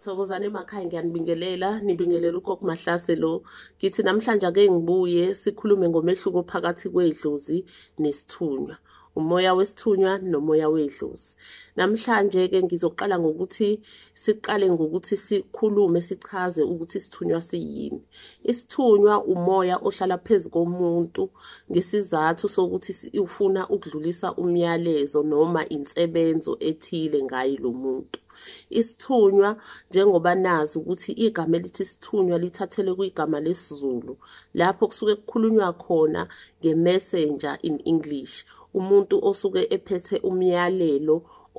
Thokozani emakhaya ngiyanibingelela nibingelela ugogo Mahlase lo ngithi namhlanje ake ngibuye sikhulume ngomehluko phakathi kwedlozi nesithunywa umoya wesithunywa nomoya wedlozi namhlanje ke ngizoqala ngokuthi siqale ngokuthi sikhulume sichaze ukuthi isithunywa siyini isithunywa umoya ohlala phezulu komuntu ngesizathu sokuthi ufuna ukudlulisa umyalezo noma insebenzo ethile ngayi lo muntu Isithunywa njengoba nazi ukuthi igama elithi isithunywa lithathelwe kwigama lesiZulu lapho kusuke kukhulunywa khona nge-messenger in English umuntu osuke ephethe umyalelo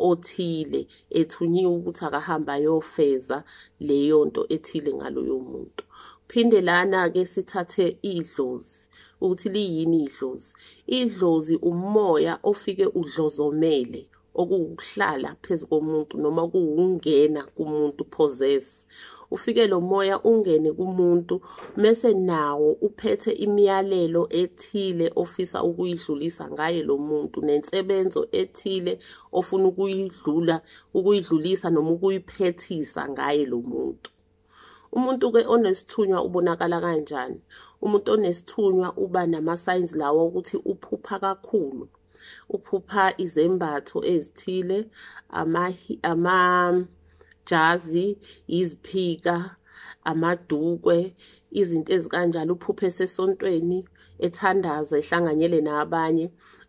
othile ethunyiwe ukuthi akahamba ayofeza leyo nto ethile ngaloyo muntu phinde lana-ke sithathe idlozi ukuthi liyini idlozi idlozi umoya ofike udlozomele okuwukuhlala phezu komuntu noma kuwungena kumuntu possess ufike lo moya ungene kumuntu mese nawo uphethe imiyalelo ethile ofisa ukuyidlulisa ngaye lo muntu nensebenzo ethile ofuna ukuyidlula ukuyidlulisa noma ukuyiphethisa ngaye lo muntu umuntu ke onesithunywa ubonakala kanjani umuntu onesithunywa uba nama signs lawo ukuthi uphupha kakhulu uphupha izembatho ezithile ama ama jazi iziphika amadukwe izinto ezikanjalo uphuphe sesontweni ethandaza ehlanganyele nabanye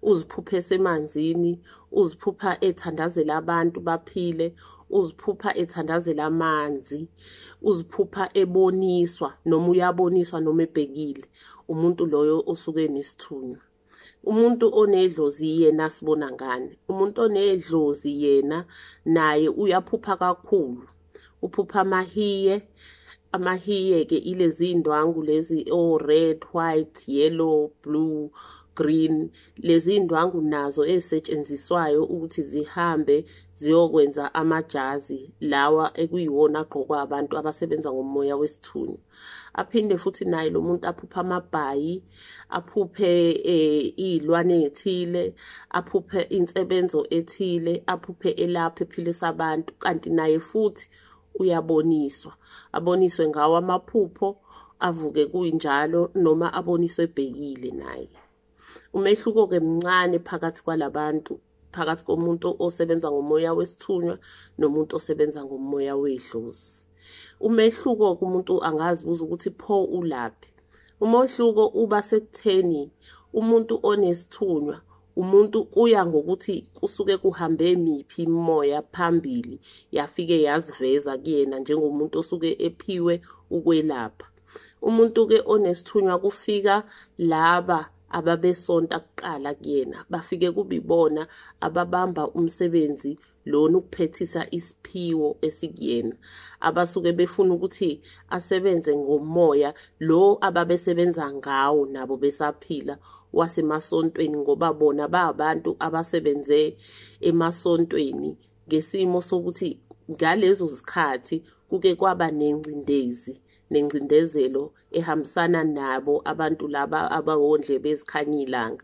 uziphupha esemanzini uziphupha ethandazela abantu baphile uziphupha ethandazela amanzi uziphupha eboniswa noma uyaboniswa noma ebhekile umuntu loyo osuke nesithunywa umuntu onedlozi yena asibona ngani umuntu onedlozi yena naye uyaphupha kakhulu uphupha amahiye amahiye-ke ilezi ndwangu lezi o-red oh, white yellow blue green lezi ndwangu nazo ezisetshenziswayo ukuthi zihambe ziyokwenza amajazi lawa ekuyiwona agqokwa abantu abasebenza ngomoya wesithuni aphinde futhi naye lo muntu aphuphe amabhayi aphuphe eh, iy'lwane ey'thile aphuphe insebenzo ethile aphuphe elapha ephilisa abantu kanti naye futhi uyaboniswa aboniswe ngawo amaphupho avuke kuyinjalo noma aboniswe ebhekile naye umehluko-ke mncane phakathi kwalabantu phakathi komuntu osebenza ngomoya wesithunywa nomuntu osebenza ngomoya wedlozi umehluko kumuntu angazibuza ukuthi pho ulaphi umehluko uba sekutheni umuntu onesithunywa umuntu kuya ngokuthi kusuke kuhambe miphi imoya phambili yafike yaziveza kuyena njengomuntu osuke ephiwe ukwelapha umuntu ke onesithunywa kufika laba ababesonta kuqala kuyena bafike kubibona ababamba umsebenzi lona ukuphethisa isiphiwo esikuyena abasuke befuna ukuthi asebenze ngomoya lo ababesebenza ngawo nabo besaphila wasemasontweni ngoba bona babantu abasebenze emasontweni ngesimo sokuthi ngalezo zikhathi kuke kwaba nengcindezi nengcindezelo ehambisana nabo abantu laba abawondle bezikhanya ilanga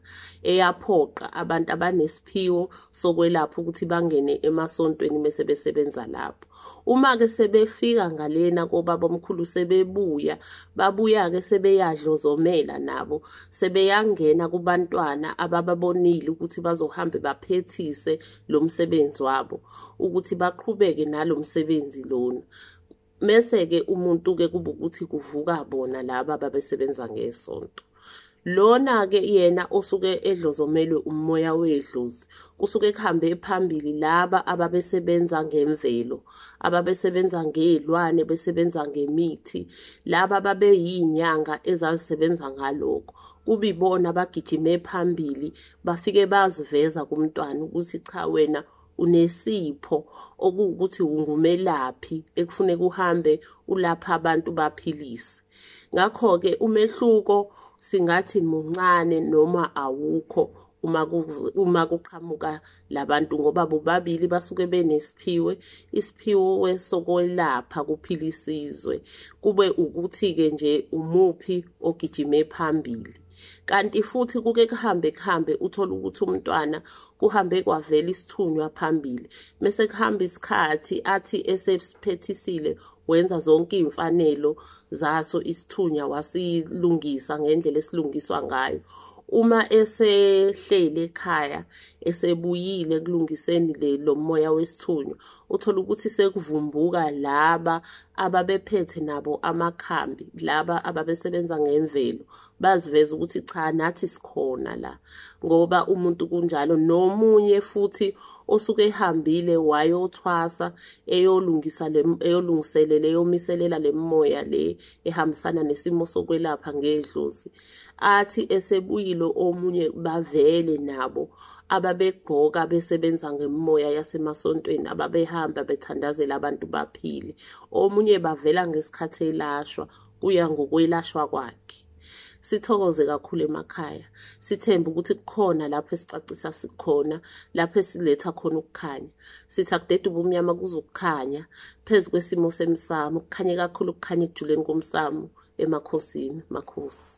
eyaphoqa abantu abanesiphiwo sokwelapha ukuthi bangene emasontweni mese besebenza lapho uma ke sebefika ngalena kobaba omkhulu sebebuya babuya ke sebeyadlozomela nabo sebeyangena kubantwana abababonile ukuthi bazohambe baphethise lo msebenzi wabo ukuthi baqhubeke nalo msebenzi lona mese-ke umuntu-ke kuba ukuthi kuvuka bona laba babesebenza ngesonto lona-ke yena osuke edlozomelwe umoya wedlozi kusuke kuhambe phambili laba ababesebenza ngemvelo ababesebenza ngey'lwane besebenza ngemithi laba babeyiy'nyanga ezazisebenza ngalokho kubibona bagijime phambili bafike baziveza kumntwana ukuthi cha wena unesipho okuwukuthi ungumelaphi ekufuneka uhambe ulapha abantu baphilise ngakho-ke umehluko singathi muncane noma awukho uma uma kuqhamuka labantu ngoba bobabili basuke benesiphiwe isiphiwo wesokwelapha kuphila isizwe kube ukuthi ke nje umuphi ogijime phambili kanti futhi kuke kuhambe kuhambe uthole ukuthi umntwana kuhambe kwavela isithunywa phambili mese kuhamba isikhathi athi esesiphethisile wenza zonke iy'mfanelo zaso isithunywa wasilungisa ngendlela esilungiswa ngayo uma esehleli ekhaya esebuyile ekulungiseni le lomoya wesithunywa uthola ukuthi sekuvumbuka laba ababephethe nabo amakhambi laba ababesebenza ngemvelo baziveza ukuthi cha nathi sikhona la ngoba umuntu kunjalo nomunye futhi osuke ehambile wayothwasa eyolungisa eyolungiselela eyomiselela le moya le ehambisana nesimo sokwelapha ngedlozi athi esebuyile omunye bavele nabo ababegqoka besebenza ngemimoya yasemasontweni ababehamba bethandazela abantu baphile omunye bavela ngesikhathi elashwa kuya ngokwelashwa kwakhe sithokoze kakhulu emakhaya sithembe ukuthi kukhona lapho esicacisa sikhona lapho esiletha khona ukukhanya sithi akudede ubumnyama kuzokukhanya phezu kwesimo semsamo kukhanye kakhulu kukhanye ekujuleni komsamo emakhosini makhosi